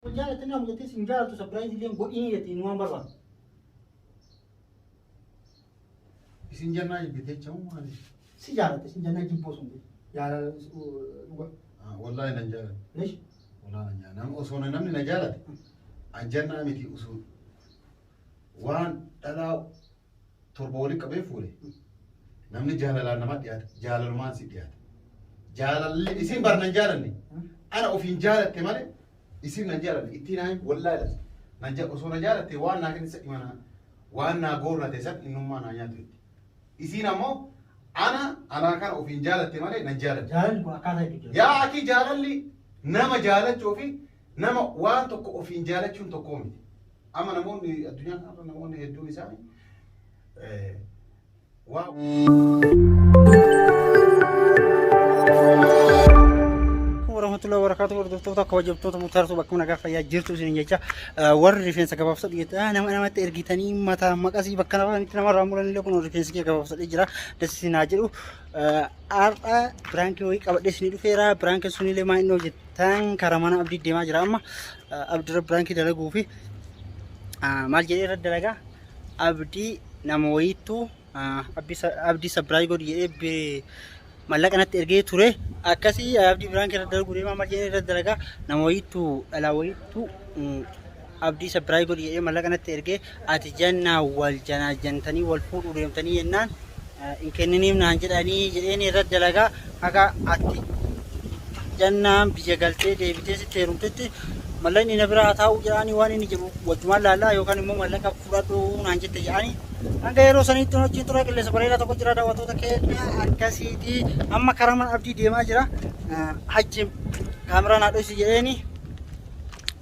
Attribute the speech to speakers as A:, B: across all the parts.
A: Wal jaalatte naamu jettee
B: sin jaalattu sapiraayizi illee godhiin jetti inni waan barbaadu. Isin jannaa
A: jibbitee jechamu maali? Si jaalatte sin jannaa jibboo sun jaalala dhuga.
B: Wallaahi nan jaalate. Lesh. Wallaahi
A: nan jaalate. Nam
B: osoo namni na jaalate an jannaa miti usuun waan dhalaa torba waliin qabee fuudhe namni jaalalaan nama dhiyaata jaalalumaan si dhiyaata jaalalli isin bar nan jaalanne ana ofiin jaalatte malee isin nan jaalanne ittiin naan wallaa ilata nan ja osoo na jaalatte waan naa kennisa imana waan naa goorrate san innummaa naa nyaatu itti isiin ammoo ana anaa kana ofiin jaalatte malee nan jaalanne Jaalalli kun akkaataa itti
A: jira. yaa akii jaalalli
B: nama jaalachuu fi nama waan tokko ofiin jaalachuun tokkoo miti Amma namoonni addunyaa kanarra namoonni
A: hedduun isaanii eh, waa warahmatullahi wabarakatuh hordoftoota kabajamtoota murtaartuu bakka nagaa fayyaa jirtu isin jecha eh, warri rifeensa gabaabsa dhiyeessaa nama namatti ergitanii mataa maqasii bakka namatti namarraa muranillee kun rifeensi kee gabaabsadhee jira das isin haa jedhu Eh, har'a biraankii wayii qabadhee isin dhufeera biraankii sunillee maa inni hojjeta tan karaa mana abdii deemaa jira amma abdurra biraankii dalaguu fi maal jedhee irra dalagaa abdii nama wayiittuu abdii sabiraay godhi jedhee mallaqa natti ergee ture akkasii abdii biraankii irra dalaguu deemaa maal jedhee irra dalagaa nama wayiittuu dhalaa wayiittuu Abdii sapirai godhi jedhee mallaqa natti erge ati janna wal janaajantanii wal fuudhuu deemtanii jennaan hin kenniniif naan jedhanii jedheen irra dalagaa haga ati jannaan biyya galtee deebitee sitti heerumtetti mallaqni na biraa taa'uu jedhaanii waan inni jedhu wajjumaan laallaa yookaan immoo mallaqa fudhadhuu naan jette jedhaanii hanga yeroo saniitti wajjin tura qilleensa bareedaa tokko jira daawwattoota keenya akkasiiti amma karaa mana abdii deemaa jira hajjim kaameraa naa dhoysi jedheeni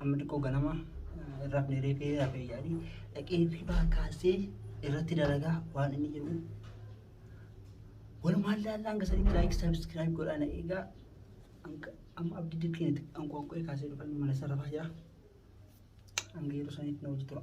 A: Amma xiqqoo ganama hin rafne reefee rafee yaadi dhaqee hirribaa kaasee irratti dalagaa waan inni jedhu walumaan laallaa hanga sanitti laayik sabiskiraayib godhaa na eegaa hanga amma abdii dirqiinatti anqooqqee kaasee dhufan mana isa rafaa jira hanga yeroo sanitti na hojii tura.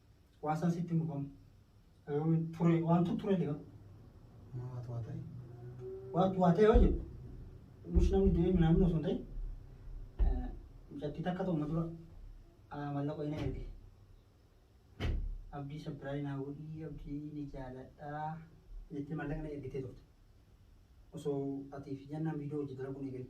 A: Waan san sitti hin dhufamu. Yoo ture waantu ture jedha. Maa waatu
B: waa ta'e. Waatu waa
A: ta'e yoo jedhu. Mush namni du'ee minaamin osoo hin ta'in. eh, Mucattii takka ta'uma dura ah, mallaqa ina erge. Abdii sabbiraayi naa godhii abdii ni jaaladhaa. Jettee mallaqa na ergitee turte. Osoo atiif jennaan viidiyoo hojii dalaguun eegalee.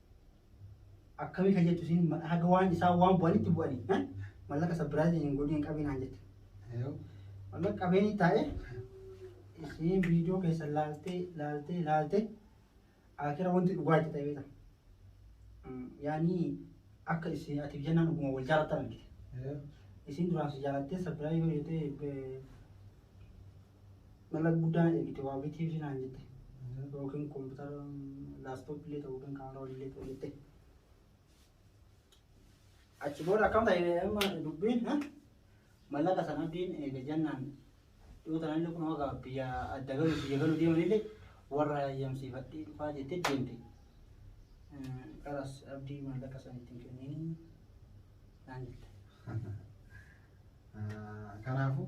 A: Akkamii kan jettu isin haga waan isaan waan bu'anitti bu'anii eh? mallaqa sabbiraayizii hin godhin hin qabiin naan jette. Yoo
B: Mallaqa qabeenii
A: taa'ee isiin viidiyoo keessa laaltee laaltee laaltee akira wanti dhugaa itti ta'ee ta'a. Yaani akka isin ati fi jennaan dhuguma wal jaalatan argite. yoo
B: Isin duraan si
A: jaalattee sabbiraayizii yoo jettee Mala guddaa ergite waa bitii fi naan jette. Yookiin kompiitara laastooppii illee ta'u yookiin kaameraa waliin illee ta'u jette. Achi booda akkam ta'e amma dubbiin ha? mallaqa sana abdiin eega jennaan yoo ta'an illee kun hoga biyya adda galu biyya galu deeman illee warra hayyamsiifadhee dhufaa jettee deemte. Eh, Kanas abdii mallaqa sana ittiin kenniin naan jette. Ah, Kanaafuu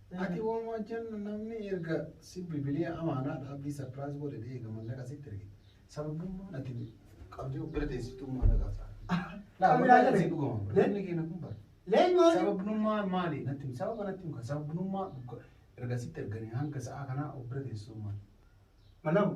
B: Ati woma jan namni erga si bilbilee amaanaa dhaabbii surprise godhe deega mallaqa sitti erge sababummaan ati qabdee of bira teessitu maallaqaaf ta'a. Laa Qabee wallahi haadha si dhugama bira. Le- Namni keenya kun bara. Leen maali?
A: Sababnummaa maali?
B: Natti himi. sababa natti himi. Sababnummaa dhuga erga sitti erganii hanga sa'aa kanaa of bira teessisuu maali? Malamu.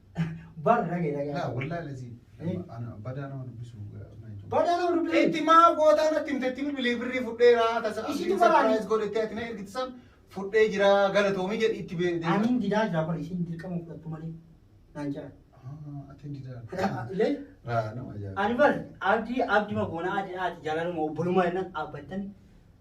B: Bar rage
A: rage. Laa wallaahi laziin.
B: Eh. Ana badaa nama dubbisu. Badaa nama
A: dubbisu. Itti maa gootaa natti
B: himtetti bilbilee birrii fudheera tasa Isitu abdiin baraani. surprise godhettee ati na ergiti san fudhee jira galatoomii jedhi itti beekte. Ani didaa jira bar isin
A: dirqama fudhattu malee naan jira. Atiin
B: didaa. Illee Raa
A: nama ajaa'iba. ani
B: bar abdi
A: abdi magoona ati ati jalaluma obboluma jennan abbattan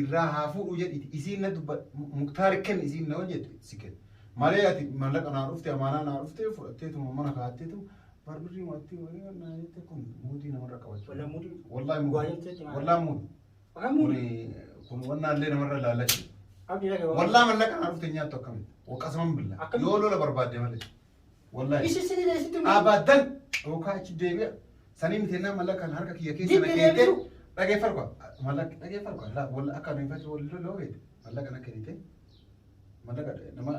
B: irraa haa fuudhu jedhiti isiin na dubba muktaar kenni isiin na hojjette si kenni malee ati mallaqa naa dhufte amaanaa naa dhufte fudhatteetuma mana kaatteetu barbirrii mo'attii wayii naa jette kun muudii namarra qabachuu Walaa muudii. wallaahi Waa
A: muudii jettee timaa.
B: wallaahi muudii Waan kun muudii. kun wannaa illee namarra laallachi Abdi dhagee waan. wallaahi
A: mallaqa naa dhufte
B: nyaattu akkamitti waqasaman billa Akkamitti? yoo lola barbaadde malee Wallahi. Ishi sini na isitti mudii.
A: Abadan. Dhookaa
B: achi deebi'a. Sanii miti ennaa mallaqa kan harka kiyya keessa Dibbi na keettee. deebi'u. Dhageeffar kwa. Mallaqa dhageeffar kwa. Laa walla akka nuyi fatu walli loloo beekte. Mallaqa na kennite. Mallaqa nama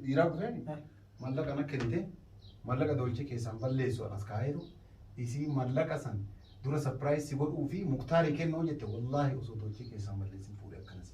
B: dhiiraa kuteen. Mallaqa na kennite. Mallaqa doolchee keessaan balleessu anas kaayeetu. Isii mallaqa san dura sapiraayis si godhuu fi muktaarii kennoo jette wallaahi osoo doolchee keessaan balleessin fuudhee akkanas.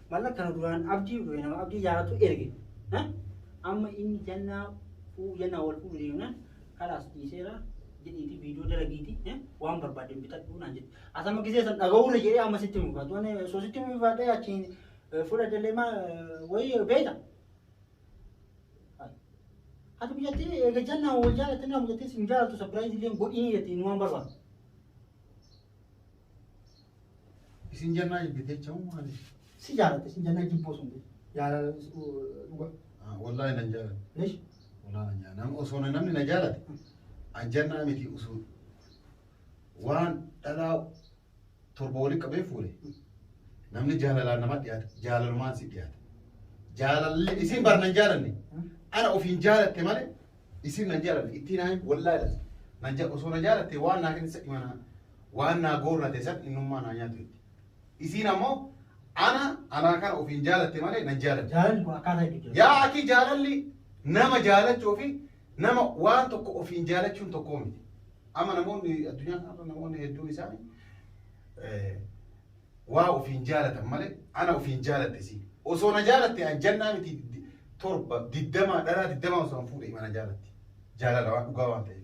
A: Malla kana duraan abdii dhufe nama abdii jaalatu erge. Ha? Amma inni jannaa fuu jannaa wal fuudhu deemnaan kalaas dhiiseera jedhiiti viidiyoo dalagiiti eh, waan barbaadde bitadhu naan jedhe. As amma gisee san dhaga'uurra jedhee amma sitti mufaatu. Ani osoo sitti mufaadhee achiin eh, fudhadhellee maa eh, wayii beekta. Ati biyyattii eega jannaa wal jaalatte nama biyyattii sin jaalatu sapiraayiz illee godhiin jetti inni waan barbaadu.
B: Isin jannaa jibbite jecha moo maali? Si jaalatte isin
A: jannaa jibboo sun jaalala dhuga. Wallaahi nan
B: jaalate. Lesh. Wallaahi
A: nan jaalate.
B: Osoo namni na jaalate an jannaa miti osoo waan dhalaa torba waliin qabee fuudhe namni jaalalaan nama dhiyaata jaalalumaan si dhiyaata. Jaalalli isin bar nan jaalanne ana ofiin jaalatte malee isin nan jaalanne ittiin ayi wallaahi nan jaalate osoo na jaalatte waan naa kenna isa dhimanaa. waan naa goorrate san innummaa naa nyaatu jette. Isiin ammoo ana anaa kana ofiin jaalatte malee nan jaalanne. Jaalalli kun akkaataa hedduu
A: jira. Yaa akii jaalalli
B: nama jaalachuu fi nama waan tokko ofiin jaalachuun tokkoo miti. Amma namoonni addunyaa kanarra namoonni hedduun isaanii eh, waa ofiin jaalatan malee ana ofiin jaalatte si. Osoo na jaalatte an jannaa miti di- torba diddamaa dhalaa diddamaa osoo an fuudhe ima na jaalatti. Jaalala waan dhugaa waan ta'eef.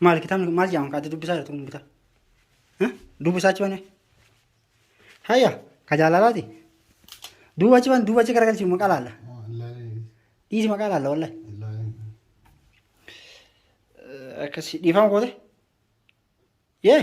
A: Maal kitaabni kun maal jedhama kaati dubbisaa jirtu kun kitaaba? Eh? Dubbisaa achi banee? Hayya ka jaalalaati. Duuba achi ban duuba achi garagalchi maqaa laalla. Dhiisi maqaa laalla wallahi. Akkasi dhiifama goote? Yee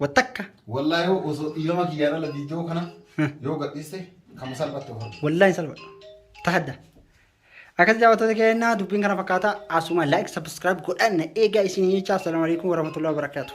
A: Wattakka. Wallahi yoo osoo
B: dhiirama kiyyaa dhala viidiyoo kana yoo gadhiiste kama salphatte of argite. Wallahi hin salphadhu.
A: Tahadda. Akkas jaawwattoota keenya dubbiin kana fakkaata asuma like subscribe godhan eegaa isin jechaa assalamu alaikum warahmatullahi wabarakatuh.